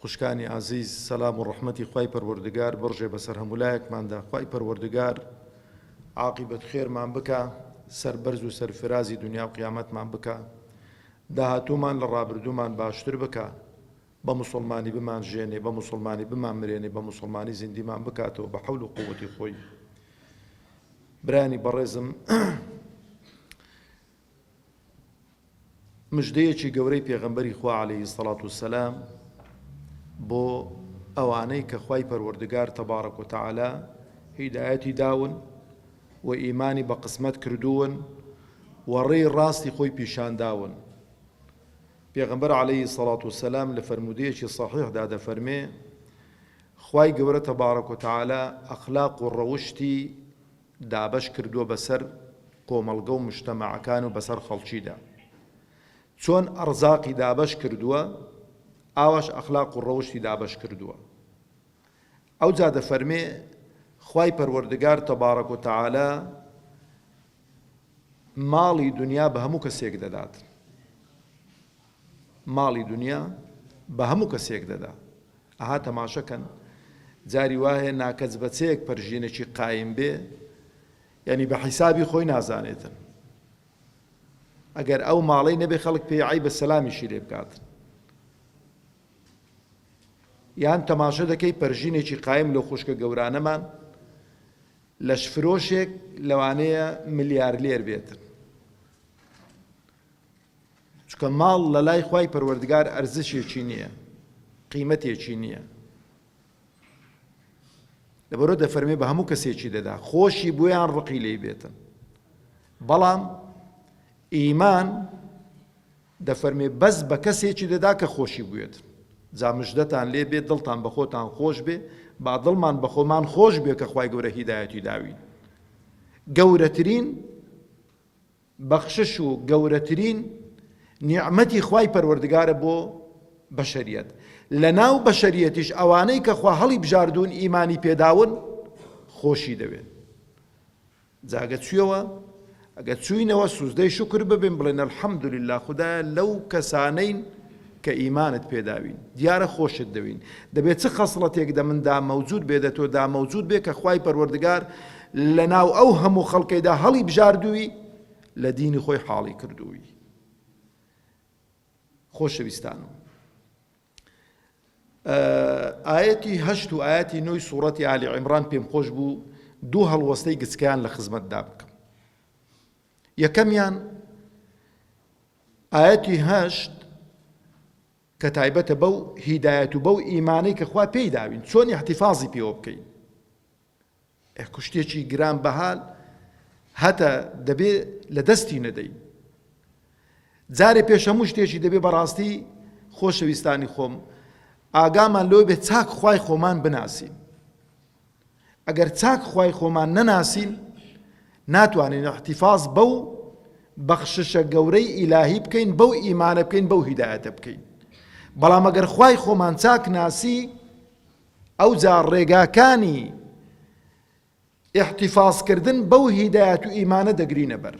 خوشکانی ئازیز سەلام و ڕەحمەتی خوای پەروەردگار بڕژێ بەسەر هەموولایەکماندا خوای پەروەردگار عاقیبەت خێرمان بکا سەربەرز و سەرفرازی دنیا و قیامەتمان بکا داهاتوومان لە ڕابردوومان باشتر بکا بە موسڵمانی بمان ژێنێ بە موسڵمانی بمان مرێنێ بە موسڵمانی زیندیمان بکاتەوە بە حەول و قوتی خۆی برانی بەڕێزم مژدەیەکی گەورەی پێغەمبەری خوا علیە سەلات و سەلام بۆ ئەوانەی کە خوای پەروەردگار تەبارەک و تەعالا هیدایەتی داون و ئیمانی بە قسمەت کردوون و ڕێی ڕاستی خۆی پیشان داون پێغەمبەر عليهەی سەڵات و سەسلام لە فرەرمودەیەکی صحیحدا دەفەرمێ خی گەورە تەبارەک و تەعالا ئەخلاق و ڕەوشتی دابەش کردووە بەسەر کۆمەڵگە و مجتەمەعەکان و بەسەر خەڵکیدا چۆن ئەڕزاقی دابەش کردووە ئاواش ئەخلاق و ڕەوشتی دابەش کردووە ئەوجا دەفەرمێ خوای پەروەردگار تەبارەک و تەعالا ماڵی دنیا بە هەموو کەسێک دەدات ماڵی دونیا بە هەموو کەسێک دەدا. ئەها تەماشە کەن جاری وایە ناکەس بە چەیەک پەرژینەکی قایم بێ یانی بە حیسابی خۆی نازانێتن. ئەگەر ئەو ماڵەی نەبێ خەڵک پێی عەیبە سەلامیشی لێ بکاتن. یان تەماشە دەکەی پەرژینێکی قایم لەو خوشکە گەورانەمان لەش فرۆشێک لەوانەیە ملیارلێر بێتن. چونکە ماڵ لە لای خوای پەروەردگار ئەرزشێکی نییە قیمەتێکی نییە لەبەرۆ دەفەرمێ بە هەموو کەسێکی دەدا خۆشی بۆیان ڕقی لی بێتن بەڵام ئیمان دەفەرمێ بەس بە کەسێکی دەدا کە خۆشی بوێت جامژدەتان لێ بێت دڵتان بە خۆتان خۆش بێ با دڵمان بە خۆمان خۆش بێ کە خی گەورە هیدایەتی داوین گەورەترین بەخشش و گەورەترین نیعمەتی خوای پەروەردگارە بۆ بەشەریەت لەناو بەشەریەتیش ئەوانەی کە خوا هەڵیبژاردوون ئیمانی پێداون خۆشی دەوێن جاگە چویەوە ئەگە چوینەوە سوزدەی شکر ببین بڵێن الحمدلله خدایە لەو کەسانەین کە ئیمانت پێ داوین دیارە خۆشت دەوین دەبێ چ خەسڵەتێک دە مندا مەوجود بێ دە تۆدا مەوجود بێ کە خوای پەروەردگار لە ناو ئەو هەموو خەڵکەیدا هەڵی بژاردووی لە دینی خۆی حاڵی کردووی خۆشەویستانم ئاەتی هەشت و ئاەتی نوی سوورەتی عالی عیمران پێم خۆش بوو دوو هەڵوەستەی گچکیان لە خزمەتدا بکەم یەکەمیان ئایەتی هەشت کە تایبەتە بەو هیدایەت و بەو ئیمانەی کە خوا پێی داوین چۆن احتفاظی پێوە بکەین ئە کوشتێکی گران بەهال هەتا دەبێ لە دەستی نەدەین جارێ پێش هەموو شتێکی دەبێ بەڕاستی خۆشەویستانی خۆم ئاگامان لۆ بێ چاک خی خۆمان بناسین ئەگەر چاک خوای خۆمان نەناسین ناتوانین احتفاظ بەو بەخششە گەورەی ئیلاهی بکەین بەو ئیمانە بکەین بەو هیدایەتە بکەین بەڵام ئەگەر خوای خۆمان چاک ناسی ئەوجا ڕێگاکانی احتفاظکردن بەو هیدایەت و ئیمانە دەگرینە بەر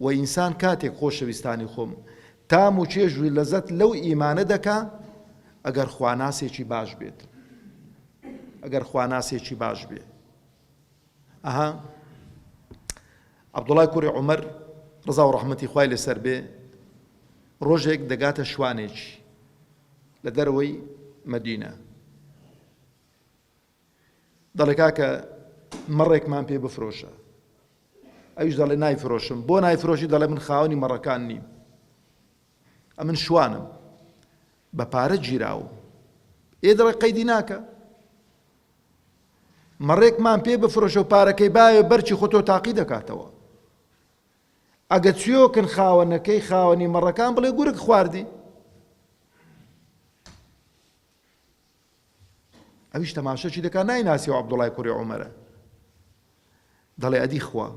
وە ئینسان کاتێک خۆشەویستانی خۆم تام و چێژ و لەزەت لەو ئیمانە دەکا ئەگەر خواناسێکی باش بێت ئەگەر خواناسێکی باش بێ ئەها عبدوڵای کوڕی عمر ڕزا و ڕحمەتی خوای لەسەر بێ ڕۆژێک دەگاتە شوانێکی لە دەرەوەی مەدینە دەڵێ کاکە مەڕێکمان پێ بفرۆشە ئەویش دەڵێ نایفرۆشم بۆ نایفرۆشی دەڵێ من خاوەنی مەڕەکان نیم ئەمن شوانم بە پارە گیراوم ئێ دەڵێ قەیدی ناکە مەڕێکمان پێ بفرۆشە و پارەکەی باوێ بەرچی خۆتۆ تاقی دەکاتەوە ئەگە چیۆکن خاوەنەکەی خاوەنی مەڕەکان بڵێ گورک خواردی ئەویش تەماشەشی دەکا نایناسی و عەبدوڵای کوڕی عومەرە دەڵێ ئەدی خوا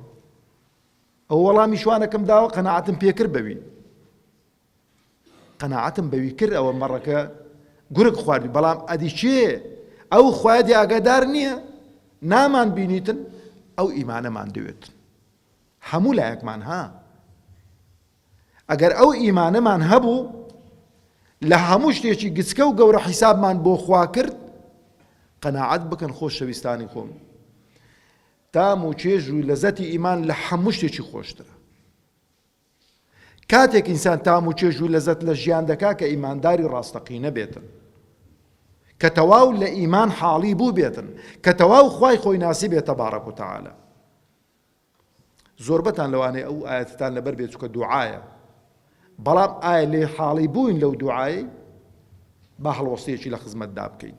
ئەو وەڵامی شوانەکەم داوە قەنەعەتم پێکرد بەوی قەنەعەتم بەوی کرد ئەوە مەڕەکە گورگ خواردی بەڵام ئەدی چێ ئەو خوادی ئاگادار نییە نامان بینیتن ئەو ئیمانەمان دەوێت هەموو لایەکمان ها ئەگەر ئەو ئیمانەمان هەبوو لە هەموو شتێکی گچکە و گەورە حیسابمان بۆ خوا کرد قەناعەت بکەن خۆشەویستانی خۆم تام و چێژ و لەزەتی ئیمان لە هەموو شتێکی خۆشترە کاتێک ئینسان تام و چێژ و لەزەت لە ژیان دەکا کە ئیمانداری ڕاستەقینە بێتن کە تەواو لە ئیمان حاڵی بوو بێتن کە تەواو خی خۆی ناسی بێتە بارەک و تەعاالە زۆربەتان لەوانەیە ئەوو ئایەتەتان لەبەر بێت چونکە دوعایە بەڵام ئایا لێ حاڵی بووین لەو دوعایەی با هەڵوەستەیەکی لە خزمەتدا بکەین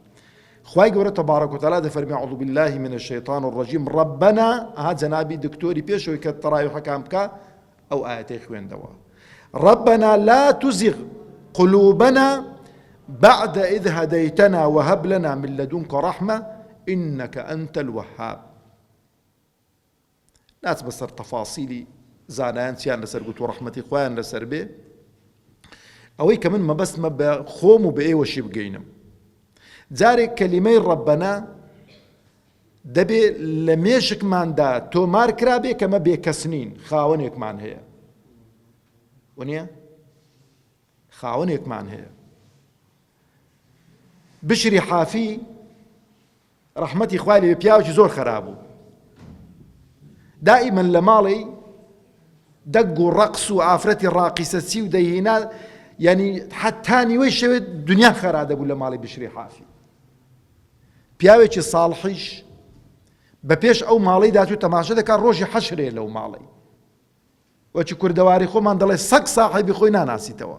خوای گەورە تبارک و تعالی دەفەرمی اعوذ بالله من الشیطان الرجیم ربنا ها جنابی دکتۆری پێشەوەی کە تەراویحەکان بکە ئەو ئاەتەی خوێندەوە ربنا لا تزغ قلوبنا بعد إذ هديتنا وهب لنا من لدنك رحمة إنك أنت الوهاب ناچمە سەر تەفاسیلی زانایان چیان لەسەر گوتو ڕەحمەتی خۆیان لەسەر بێ ئەوەی کە من مەبەستمە بە خۆم و بە ئێوەشی بگەینم جارێک کەلیمەی ڕەبەنە دەبێ لە مێشکماندا تۆمار کرابێ کەمە بێکەسنین خاوەنێکمان هەیە وە خاوەنێکمان هەیە بشری حافی ڕەحمەتی خوای لێبێ پیاوەکی زۆر خەراپ بوو دائیمەن لە ماڵی دەگ و ڕەقس و ئافرەتی ڕاقیسە چی و دەیهینا یعنی حتا نیوەی شەوێت دنیا خەرا دەبوو لە ماڵی بشری حافی پیاوێکی ساڵحیش بە پێش ئەو ماڵی داات و تەماشە دەکات ڕۆژی حەشرێ لەو ماڵی وەچی کوردەواری خۆمان دەڵێ سەگ ساحیبی خۆی ناناسیتەوە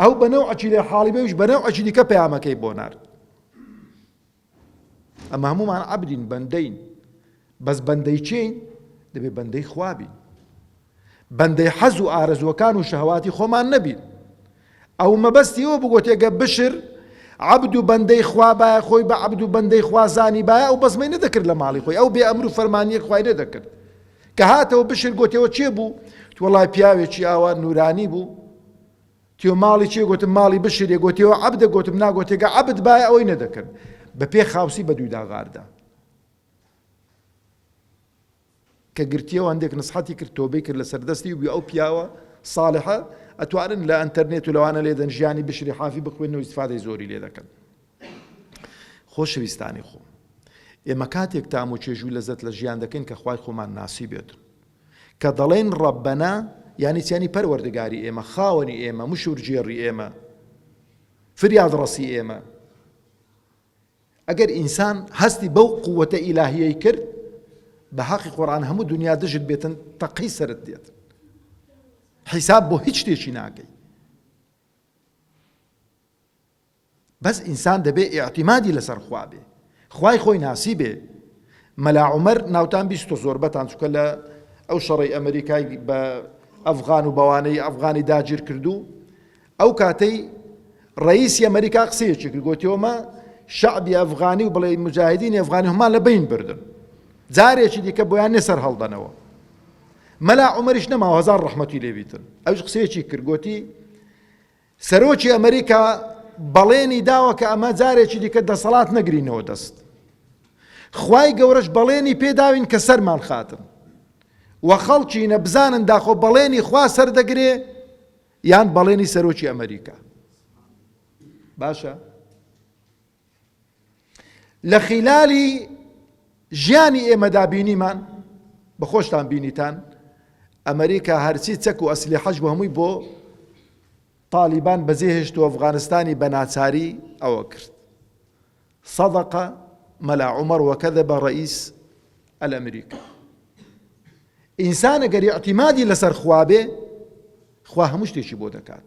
ئەو بە نەوعەکی لێ حاڵی بێ ئەویش بە نەوعەکی دیکە پەیامەکەی بۆ نارد ئەمە هەمومان عەبدین بەندەین بەس بەندەی چین دەبێ بەندەی خوابین بەندەی حەز و ئارەزوەکان و شەهواتی خۆمان نەبین ئەو مەبەستی ئەوە بگوتێگە بشر عبد و بەندەی خوا باە خۆی بە عبد و بەندەی خوازانی باە ئەو بەزمەی نەدەکرد لە ماڵی خۆی ئەو بێ ئەمر و فەرمانیەک خوای نەدەکرد کە هاتەوە بشر گۆتیەوە کێ بوو؟ وەڵای پیاوێکی ئاوا نورانی بوو تیۆ ماڵی چێ گوتم ماڵی بشرێ گۆتیەوە عبدە گوتم ناگۆتێگە عبد باە ئەوەی نەدەکرد بە پێ خاوسی بە دووی داغاردا کە گرتیەوە هەندێک نسحەتی کرد تۆبەی کرد لە سەردەستی و بێ ئەو پیاوە ساڵحە ئەتوانن لە ئەتەرنێت و لەوانە لێدەن ژیانی بشری حافی بخوێن و ئیسفادەی زۆری لێ دەکەن خۆشەویستانی خۆم، ئێمە کاتێک تام و چێژ و لەزەت لە ژیان دەکەین کە خوای خۆمان ناسیبێت. کە دەڵێین ڕەبەنا یانی چی؟ یانی پەروەردگاری ئێمە، خاوەنی ئێمە، مشورگێڕی ئێمە، فریادڕەسی ئێمە. ئەگەر ئینسان هەستی بەو قووەتە ئیلاهیەی کرد بە حەقی قۆران هەموو دنیا دژت بێتن تەقی سرت دێت. حیساب بۆ هیچ شتێکی ناکەی. بەس ئینسان دەبێ ئیعتیمادی لەسەر خوا بێ خوای خۆی ناسیبێ مەلا عومەر ناوتان بیستۆ زۆربەتان چوکە لە ئەو شەڕی ئەمریکای بە ئەفغان و بەوانەی ئەفغانی داگیر کردو ئەو کاتەی ڕئیسی ئەمریکا قسەیەکی کرد گۆتیۆمە شعبی ئەفغانی و بڵێ مجاهدینی ئەفغانی هەمان لە بین بردن جارێکی دیکە بۆیان نێ سەر هەڵدەنەوە مەلا عمەریش نەماوە هزار ڕحمەتی لێبیتن ئەوش قسەیەکی کرد گۆتی سەرۆکی ئەمریکا بەڵێنی داوە کە ئەمە جارێکی دیکە دەسەڵات نەگرینەوە دەست خوای گەورەش بەڵێنی پێداوین کە سەرمان خاتن و خەڵکی نەبزانن داخۆ بەڵێنی خوا سەردەگرێ یان بەڵێنی سەرۆکی ئەمریکا باشە لە خیلالی ژیانی ئێمەدا بینیمان بە خۆشتان بینیتان ئەمریکا هەرچی چەک و ئەسلیحەش بۆ هەمووی بۆ تالیبان بەجێ هێشت و ئەفغانستانی بە ناچاری ئەوە کرد صدقە مەلا عمر وەکەدە بە ڕئیس ئەلئەمریکا ئینسانە گەری ئەتیمادی لەسەر خوابێ خوا هەموو شتێکی بۆ دەکات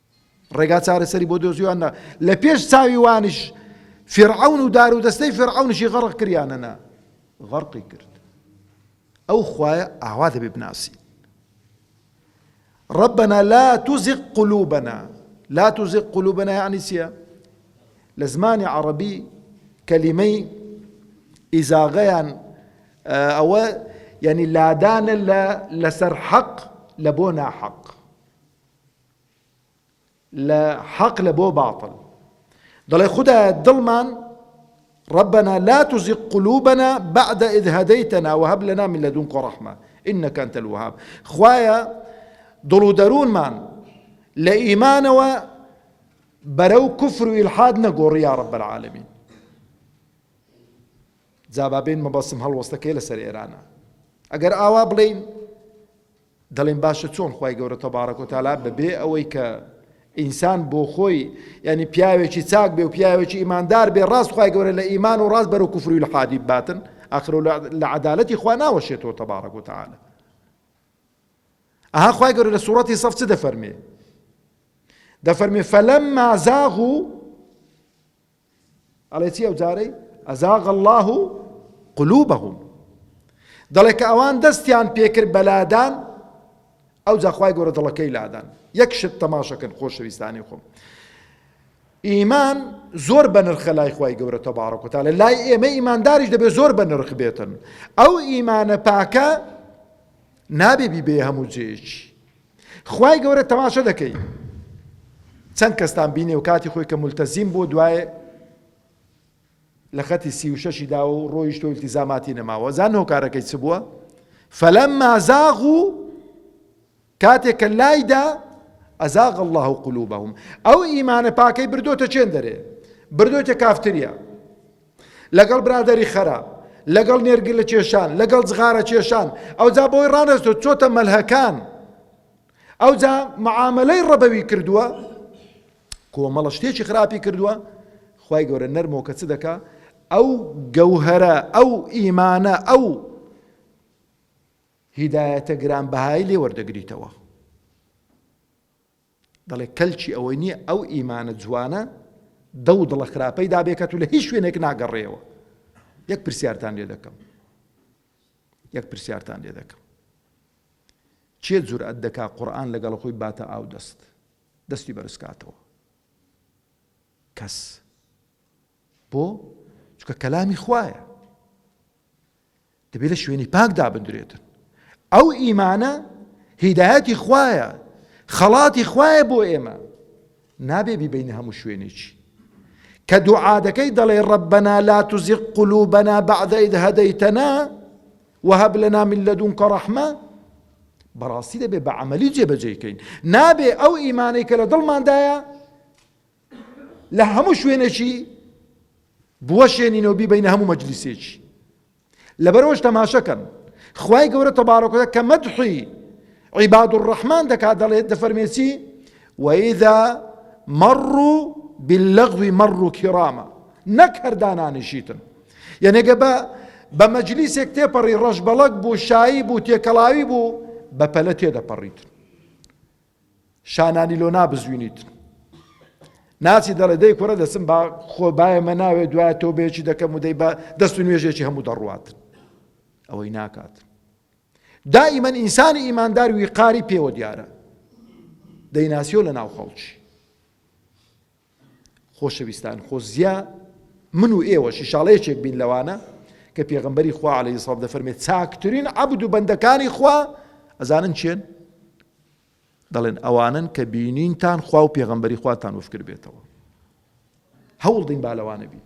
ڕێگا چارەسەری بۆ دۆزیوان نا، لە پێش چاوی وانیش فیرعەون و دار و دەستەی فیرعەونیشی غەڕق کریانە نا، غەڕقی کرد. ئەو خوایە ئاوا دەبێ بناسین. ربنا لا تزغ قلوبنا لا تزغ قلوبنا یعنی چییە؟ لە زمانی عەڕەبی کەلیمەی ئیزاغەیان ئەوە یعنی لادانە لە لەسەر حەق لە بۆ ناحەق لە حەق لە بۆ باتڵ دەڵێ خدایە دڵمان ربنا لا تزغ قلوبنا بعد إذ هديتنا وهب لنا من لدنك رحمة إنك أنت الوهاب خوایا دڵ و دەروونمان لە ئیمانەوە بەرەو کوفر و ئیلحاد نەگۆڕی یا رب العالمین جابابین مەبەسم هەڵوەستەکەی لەسەر ئێرانە ئەگەر ئاوا بڵین دەڵێن باشە چۆن خوای گەورە تبارک و تعالی بەبێ ئەوەی کە ئینسان بۆ خۆی یعنی پیاوێکی چاک بێ و پیاوێکی ئیماندار بێ ڕاست خوای گەورە لە ئیمان و ڕاست بەرەو کوفری لە حادی باتن ئاخر لە عدالەتی خوا ناوەشێتەوە تبارک و تعالی ئەها خوای گەورە لە سوورەتی سەف چ دەفەرمێ دەفەرمێ فەلەمما زاغ و ئەڵێ چی ئەو جارەی، ازاغ اللە قلوبهم، دەڵێ کە ئەوان دەستیان پێکرد بە لادان ئەوجا خوای گەورە دڵەکەی لادان یەک شت تەماشەکەن خۆشەویستانی خۆم ئیمان زۆر بەنرخە لای خی گەورە تەبارەکوتالە لای ئێمە ئیمانداریش دەبێت زۆر بە نرخ بێتن ئەو ئیمانە پاکە نابێ بیبێ هەموو جێژی خوای گەورە تەماشە دەکەی چەند کەستان بینێ و کاتی خۆی کە ملتەزیم بۆ دوای لە خەتی سی و شەشی دا و ڕۆیشت و التیزاماتی نەماوە زان هۆکارەکەی چ بووە فەلەم مازاغ و کاتێک کە لایدا ئەزاغ الله و قلوبهم ئەو ئیمانە پاکەی بردۆتە چێن دەرێ بردۆتە کافتریا لەگەڵ برادەری خەراپ، لەگەڵ نێرگلە کێشان، لەگەڵ جغارە کێشان، ئەوجا بۆی ڕانەستووە چۆتە مەلهەکان، ئەوجا معامەلەی ڕەبەوی کردووە، کۆمەڵە شتێکی خراپی کردووە، خوای گەورە نەرمۆ کە چ دەکا ئەو گەوهەرە ئەو ئیمانە ئەو هیدایەتە گرانبەهای لێ وەردەگریتەوە. دەڵێ کەلکی ئەوەی نییە ئەو ئیمانە جوانە دەو دڵە خراپەی دابێکەت و لە هیچ شوێنێک ناگەڕێەوە یەک پرسیارتان لێ دەکەم یەک پرسیارتان لێ دەکەم چێ جورئەت دەکا قورآن لەگەڵ خۆی باتە ئاو دەست دەستی بەرزکاتەوە کەس بۆ چکە کەلامی خوایە دەبێت لە شوێنی پاک دابندرێتن ئەو ئیمانە هیدایەتی خوایە خەڵاتی خوایە بۆ ئێمە نابێ بیبینە هەموو شوێنێکی کە دوعادەکەی دەڵێ ڕەبەنا لا تزیق قلوبنا بعد إذ هديتنا وهب لنا من لدنك رحمة بەڕاستی دەبێ بە عملی جێبەجێکەین نابێ ئەو ئیمانەی کە لە دڵماندایە لە هەموو شوێنێکی بوەشێنینەوە بیبینە هەموو مەجلیسێکی لەبەرەوەش تەماشەکەن خوای گەورە تەبارەکە کە مەدحی عیباد و ڕەحمان دەکات دەڵێت دەفەرمێسی وەیدا مەڕ و باللغوی مەڕ و کیڕامە نەک هەردانانیشیتن یەنێگە بە بە مەجلیسێک تێپەڕی ڕەش بەڵک بوو شایی بوو تێکەڵاوی بوو بە پەلە تێدەپەڕیتن شانانی لۆ نابزوینیت ناچی دەڵێ دەی کوڕە دەچم با خۆ بایە مە ناوێ دوای تۆ بێکی دەکەم و دەی بە دەست و نوێژێکی هەموو دەڕوات ئەوەی ناکات دائما ئینسانی ئیماندار ویقاری پێوە دیارە دەیناسیۆ لە ناو خەڵکی خۆشەویستان خۆزیا من و ئێوەش ئیشاڵە یەکێک بین لەوانە کە پێغمبەری خوا عەلەیهی سڵاو دەفەرمێت چاکترین عەبد و بەندەکانی خوا ئەزانن چێن دەڵێن ئەوانن کە بینینتان خوا و پێغمبەری خواتان وفکر بێتەوە هەوڵدەین بالەوانە بین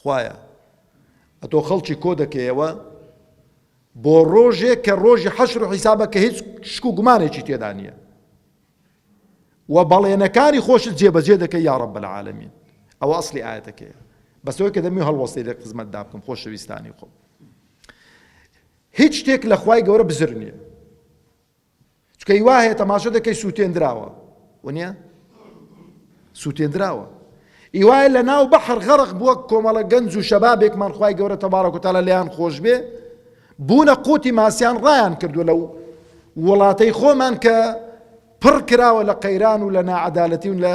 خوایە ئەتۆ خەڵکی کۆ دەکەیەوە بۆ ڕۆژێک کە ڕۆژی حەشر و حیسابە کە هیچ شک و گومانێکی تێدا نییە و بەڵێنەکانی خۆشت جێبەجێ دەکەی یا رب العالمین ئەوە ئەسلی ئاەتەکەیە بەسەوەی کە دەمی هەڵوەستی لە خزمەت دا بکەم خۆشەویستانی خۆم هیچ شتێک لە خوای گەورە بزر نییە چونکە هی وا هەیە تەماشە دەکەی سووتێندراوە وەنیە سووتێندراوە ئیوایە لە ناو بەحر غەرق بووە کۆمەڵە گەنج و شەبابێکمان خی گەورە تەبارەکوتالە لەیان خۆش بێ بوونە قوتی ماسیان ڕایان کردو لەو وڵاتەی خۆمان کە پڕ کراوە لە قەیران و لە ناعەدالەتی و لە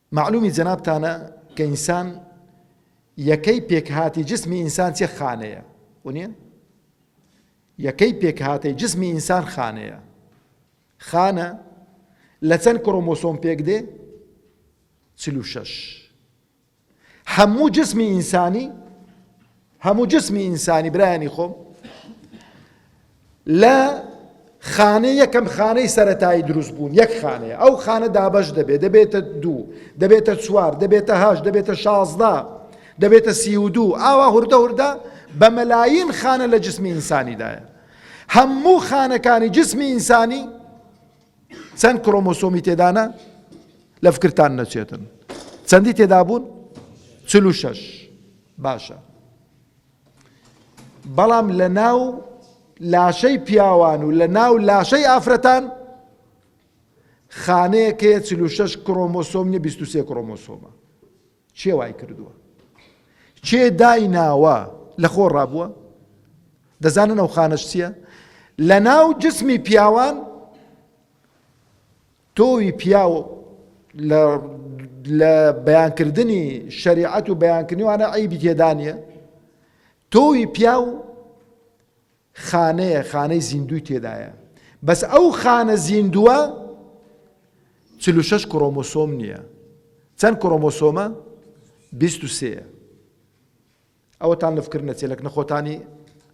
مەعلومی جەنابتانە کە ئینسان یەکەی پێکهاتی جسمی ئینسان چێ خانەیە ونیە یەکەی پێکهاتەی جسمی ئینسان خانەیە خانە لە چەند کڕۆمۆسۆم پێک دێ چل و شەش هەموو جسمی ئینسانی هەموو جسمی ئینسانی برایانی خۆم لە خانە یەکەم خانەی سەتایی دروست بوون یەک خانەیە ئەو خانە دابش دەبێت دەبێتە دوو دەبێتە چوار دەبێتە هاش دەبێتە شازدە دەبێتە سی و دوو ئاوا هوردە هوردە بە مەلاین خانە لە جسمی ئینسانیدایە هەموو خانەکانی جسمی ئینسانی چەند کرۆمۆسۆمی تێدانە لە فکرتان نەچێتن چەندی تێدابوون چل و شەش باشە بەڵام لە ناو لاشەی پیاوان و لە ناو لاشەی ئافرەتان خانەیەکەیە چل و شەش کرۆمۆسۆم نیە بیست و سێ کرۆمۆسۆمە کێ وای کردووە؟ کێ دایناوە؟ لە خۆ ڕابووە؟ دەزانن ئەو خانەش چییە؟ لە ناو جسمی پیاوان تۆوی پیاو لە بەیانکردنی شەریعەت و بەیانکردنیوانە ئەیبی تێدانە تۆوی پیاو خانەیە خانەی زیندووی تێدایە بەس ئەو خانە زیندووە چل و شەش کڕۆمۆسۆم نییە چەند کڕۆمۆسۆمە بیست و سێیە ئەوەتان لەفکردنە چێلک نەخۆتانی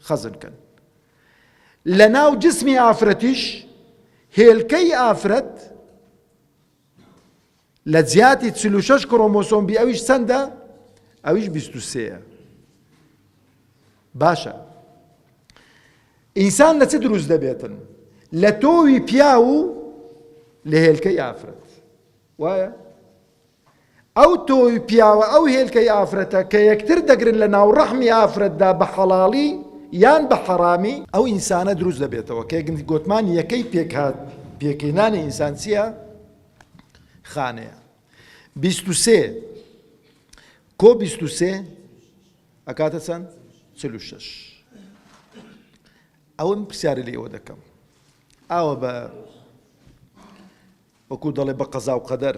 خەزن کەن لە ناو جسمی ئافرەتیش هێلکەی ئافرەت لە جیاتی چل و شەش کڕۆمۆسۆم بی ئەویش چەندە؟ ئەویش بیست و سێیە باشە ئینسان لە چ دروست دەبێتن لە تۆوی پیاو و لە هێلکەی ئافرەت وایە ئەو تۆو پیاوە ئەو هێلکەی ئافرەتە کە یەکتر دەگرن لە ناو ڕەحمی ئافرەتدا بە حەڵاڵی یان بە حەڕامی، ئەو ئینسانە دروست دەبێتەوە کە گوتمان یەکەی پێکهات پێکەی نانی ئینسان چیە؟ خانەیە بیست و سێ کۆ بیست و سێ ئەکاتە چەند؟ چل و شەش ئەوە من پرسیاری لە ئێوە دەکەم ئاوە بە وەکو دەڵێ بە قەزا و قەدەر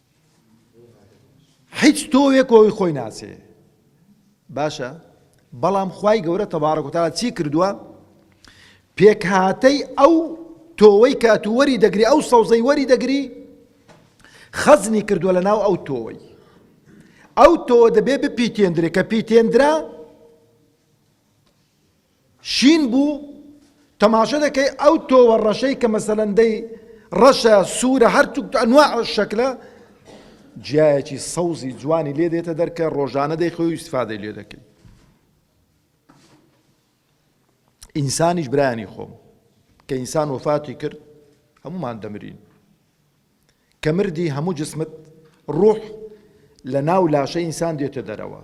هیچ تۆوێک کۆی خۆی ناسێ باشە بەڵام خی گەورە تەبارە کوتاە چی کردووە پێکهاتەی ئەو تۆوەی کاتووەری دەگری ئەو سەوزەی وەری دەگری خەزنی کردووە لە ناو ئەو تۆوەی ئەو تۆوە دەبێ بپیتێندرێ کە پیتێندرا شین بوو تەماشە دەکەی ئەو تۆوە ڕەشەی کە مەسەلەن دەی ڕەشە سوورە هەر ئەنواع شەکلە جیایەکی سەوزی جوانی لێ دێتە دەر کە ڕۆژانە دەیخۆی و ئیسفادەی لێ دەکەی ئینسانیش برانی خۆم کە ئینسان وەفاتی کرد هەمومان دەمرین کە مردی هەموو جسمت ڕوح لە ناو لاشەی ئینسان دێتە دەرەوە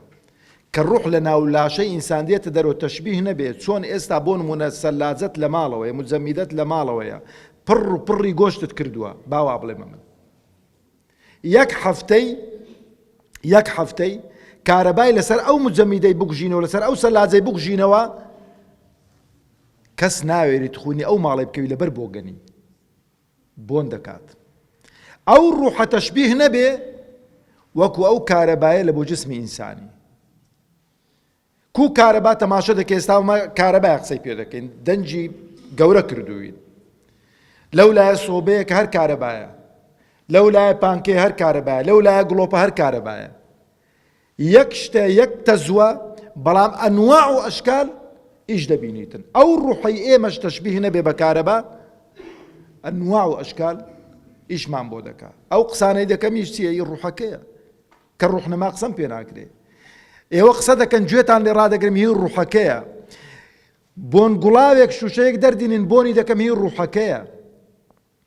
کە ڕوح لە ناو لاشەی ئینسان دێتە دەرەوە تەشبیه نەبێ چۆن ئێستا بۆ نموونە سەلاجەت لە ماڵەوەیە مجەمیدەت لە ماڵەوەیە پڕ و پڕی گۆشتت کردووە با وا بڵێمە من یەک هەفتەی یەک هەفتەی کارەبای لەسەر ئەو مجەمیدەی بکوژینەوە لەسەر ئەو سەلاجەی بکوژینەوە کەس ناوێری تخونی ئەو ماڵی بکەوی لەبەر بۆگەنی بۆن دەکات ئەو ڕوحە تەشبیه نەبێ وەکو ئەو کارەبایە لە بۆ جسمی ئینسانی کو کارەبا تەماشە دەکە ئێستا ئەمە کارەبای قسەی پێ دەکەین دەنجی گەورە کردوین لەو لایە سۆبەیە کە هەر کارەبایە لەو لایە پانکێ هەر کارەبایە لەو لایە گڵۆپە هەر کارەبایە یەک شتە یەک تەزوە بەڵام ئەنواع و ئەشکال ئیش دەبینیتن ئەو ڕوحەی ئێمەش تەشبیه نەبێ بە کارەبا ئەنواع و ئەشکال ئیشمان بۆ دەکا ئەو قسانەی دەکەمیش چیە ئی ڕوحەکەیە کە ڕوحنەما قسەم پێ ناکرێ ئێوە قسە دەکەن گوێتان لێ ڕادەگرم هی ڕوحەکەیە بۆن گوڵاوێک شوشەیەک دەردینین بۆنی دەکەم هی ڕوحەکەیە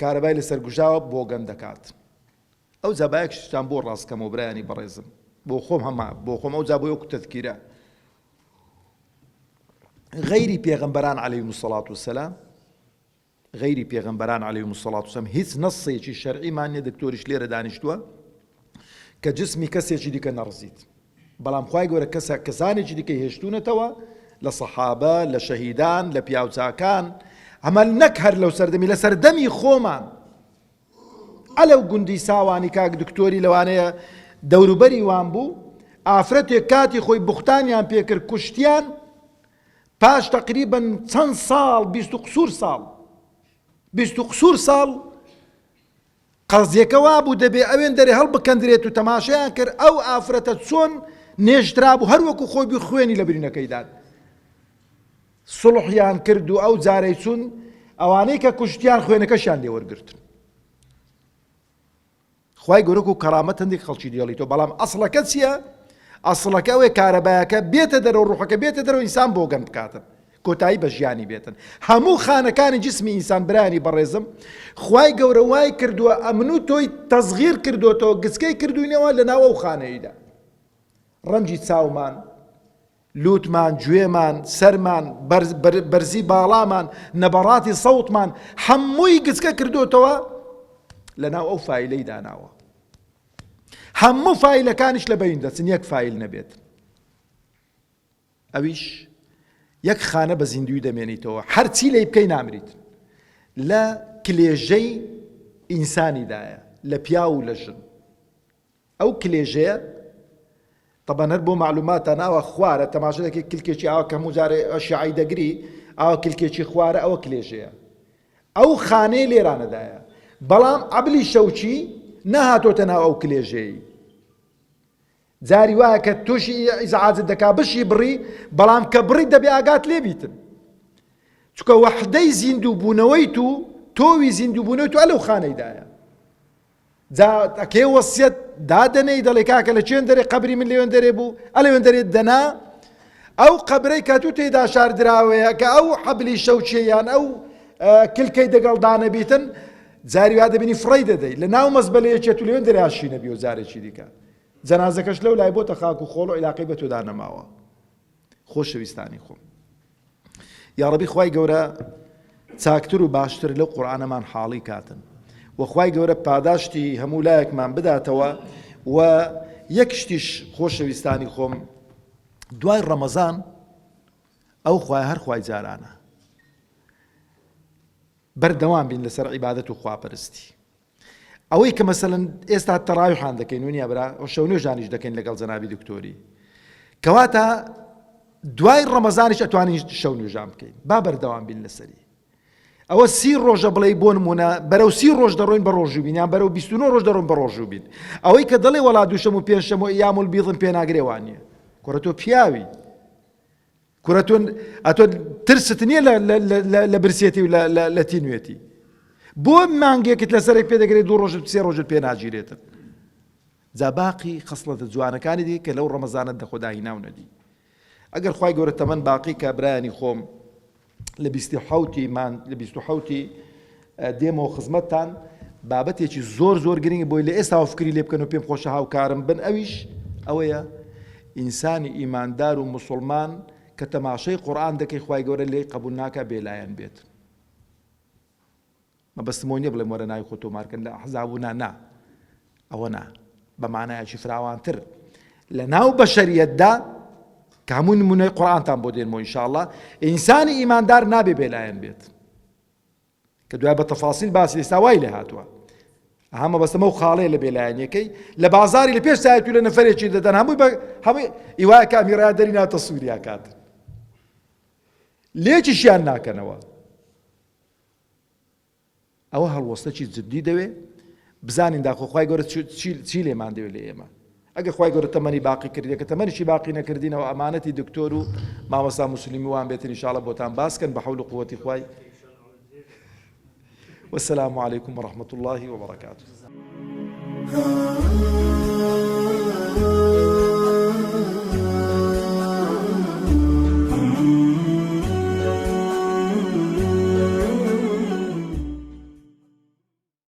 کارەبای لەسەر گوژاوە بۆگەن دەکات. ئەوجا با یەک شتتان بۆ ڕاست کەمەوە برایانی بەڕێزم. بۆ خۆم هەمە بۆ خۆم ئەوجا بۆ وەکو تەذکیرە. غەیری پێغەمبەران علیهم الصلاة والسلام غەیری پێغەمبەران علیهم الصلاة والسلام هیچ نەسێکی شەرعیمان نیە دکتۆریش لێرە دانیشتووە کە جسمی کەسێکی دیکە نەڕزیت بەڵام خوای گەورە کەسە کەسانێکی دیکەی هێشتونەتەوە لە صحابە لە شەهیدان لە پیاوچاکان ئەمە نەک هەر لەو سەردەمی لە سەردەمی خۆمان ئەلە و گوندی ساوانی کاک دکتۆری لەوانەیە دەوروبەری وان بوو ئافرەتێک کاتی خۆی بختانیان پێکرد کوشتیان پاش تقریبن چەند ساڵ بیست و قسوور ساڵ بیست و قسوور ساڵ قەزیەکە وابوو دەبێ ئەوێندەرێ هەڵبکەندرێت و تەماشایان کرد ئەو ئافرەتە چۆن نێژرابوو هەر وەکو خۆی بوو خوێنی لە برینەکەی دان سڵحیان کرد و ئەو جارەی چون ئەوانەی کە کوشتیان خوێنەکەشیان لێ وەرگرتن خی گەورەک و کەرامەت هەندێک خەڵکی دێڵی تۆ بەڵام ئەسڵەکە چییە؟ ئەسڵەکە ئەوێ کارەبایەکە بێتە دەرەوە ڕوحەکە بێتە دەرەوە ئینسان بۆگەن بکاتن کۆتایی بە ژیانی بێتن هەموو خانەکانی جسمی ئینسان برایانی بەڕێزم خوای گەورە وای کردووە ئەمن و تۆی تەزغیر کردوتەوە گچکەی کردوینەوە لە ناو ئەو خانەیدا ڕەنجی چاومان لوتمان گوێمان سەرمان بەرزی باڵامان نەبەڕاتی سەوتمان هەمووی گچکە کردوتەوە لە ناو ئەو فیلەی داناوە هەموو فیلەکانیش لە بەین دەچن یەک فیل نەبێت ئەویش یەک خانە بە زیندووی دەمێنیتەوە هەرچی لێی بکەی نامریت لە کلێژەی ئینسانیدایە لە پیاو و لە ژن ئەو کلێژەیە طبعا هەر بۆ معلوماتان ئاوا خوارە تەماشا دەکەی کلکێکی ئاوا کە هەموو جارێ شیعی دەگری ئاوا کلکێکی خوارە ئەوە کلێژەیە ئەو خانەی لێرانەدایە بەڵام عەبلی شەوچی نەهاتۆتە ناو ئەو کلێژەی جاری وایە کە توشی ئیزعاجت دەکات بشی بڕی بەڵام کە بڕی دەبێ ئاگات لێ بیتن چکە وەحدەی زیندوو بوونەوەی تو تۆوی زیندوو بوونەوە تو ئەلەو خانەیدایە جا ئەکێ وەسیەت دادەنەی دەڵێ کاکە لە چێن دەرێ قبری من لێوێن دەرێ بوو ئەلێوێن دەرێت دەنا ئەو قبرەی کە تو تێدا شاردراوەیە کە ئەو حەبلی شەوچێیان ئەو کلکەی دەگەڵ دانەبیتن جاری وا دەبینی فڕی دەدەی لە ناو مەزبەلەیەکێت و لێوێن دەراشی نەبی و جارێکی دیکە جەنازەکەش لەو لای بۆتە خاک و خۆڵ و عیلاقەی بە تۆدا نەماوە خۆشەویستانی خۆم یاڕەبی خوای گەورە چاکتر و باشتر لەو قورآانەمان حاڵی کاتن وەخوای گەورە پاداشتی هەموو لایەکمان بداتەوە و یەک شتیش خۆشەویستانی خۆم دوای ڕەمەزان ئەو خوای هەر خوای جارانە بەردەوام بین لەسەر عیباەت و خواپەرستی ئەوەی کە مەسەلەن ئێستا تەڕاویحان دەکەین ونیە برا و شەو نوێژ دانیش دەکەین لەگەڵ جەنابی دکتۆری کەواتە دوای ڕەمەزانیش ئەتوانین شەو نوێژان بکەین با بەردەوام بین لەسەری ئەوە سی ڕۆژە بڵێ بۆ نمونە بەرەو سی ڕۆژ دەڕۆین بە ڕۆژوو بینیان بەرەو 29 ڕۆژ دەڕۆن بە ڕۆژوو بین ئەوەی کە دەڵێ وڵا دووشەم و پێنجشەم و یامل بیڵم پێناگرێوان نیە کوڕە تۆ پیاوی کورە تۆ ئەتۆ ترست نییە لە برسێتی و لە تینوێتی بۆ مانگێکت لەسەرێک پێ دەگرێت دوو ڕۆژت سێ ڕۆژت پێ ناگیرێتن جا باقی خصلەتە جوانەکانی دی کە لەو ڕەمەزانت لە خۆداهی ناو نەدی ئەگەر خی گەورە تەمەەن باقی کابرایانی خۆم لە بیستی حوتی مان لە بیست و حوتی دێمەوە خزمەتتان بابەتێکی زۆر زۆر گرنگی بۆی لە ئێستاوە فکری لێ بکەن و پێم خۆشە هاوکارم بن ئەویش ئەوەیە ئینسانی ئیماندار و مسلمان کە تەماشای قورئان دەکەی خوای گەورە لێی قبول ناکا بێلایەن بێت مەبەستم ئەو نیە بڵێم وەرە ناوی خۆ تۆمارکەن لە ئەحزاب و نا نا ئەوە نا بە مانایەکی فراوانتر لە ناو بەشەریەتدا کە هەموو نمونەی قورئانتان بۆ دێنمەوە ئینشاءاللە ئینسانی ئیماندار نابێ بێلایەن بێت کە دوای بە تەفاسیل باسی ئێستا وای لێ هاتووە ئەها مەبەستم ئەو خاڵەیە لە بێلایەنیەکەی لە بازاری لە پێش سایەت و لە نەفرێکی دەدەن هەمووی بە هەمووی ئیوای کامیرا دەری ناتە سووریا کات لێکیشیان ناکەنەوە ئەوە هەڵوەستەکی جددی دەوێ بزانین داخۆخوای گەورە چی لێمان دەوێت لە ئێمە ئەگەر خوای گەورە تەمەنی باقی کردیە کە تەمەنیشی باقی نەکردین ئەوە ئەمانەتی دکتۆر و مامۆستا موسلیمی وان بێتن ان شاءاللە بۆتان باس کەن بە حول و قوەتی خوای والسلام عليكم ورحمة الله وبركاته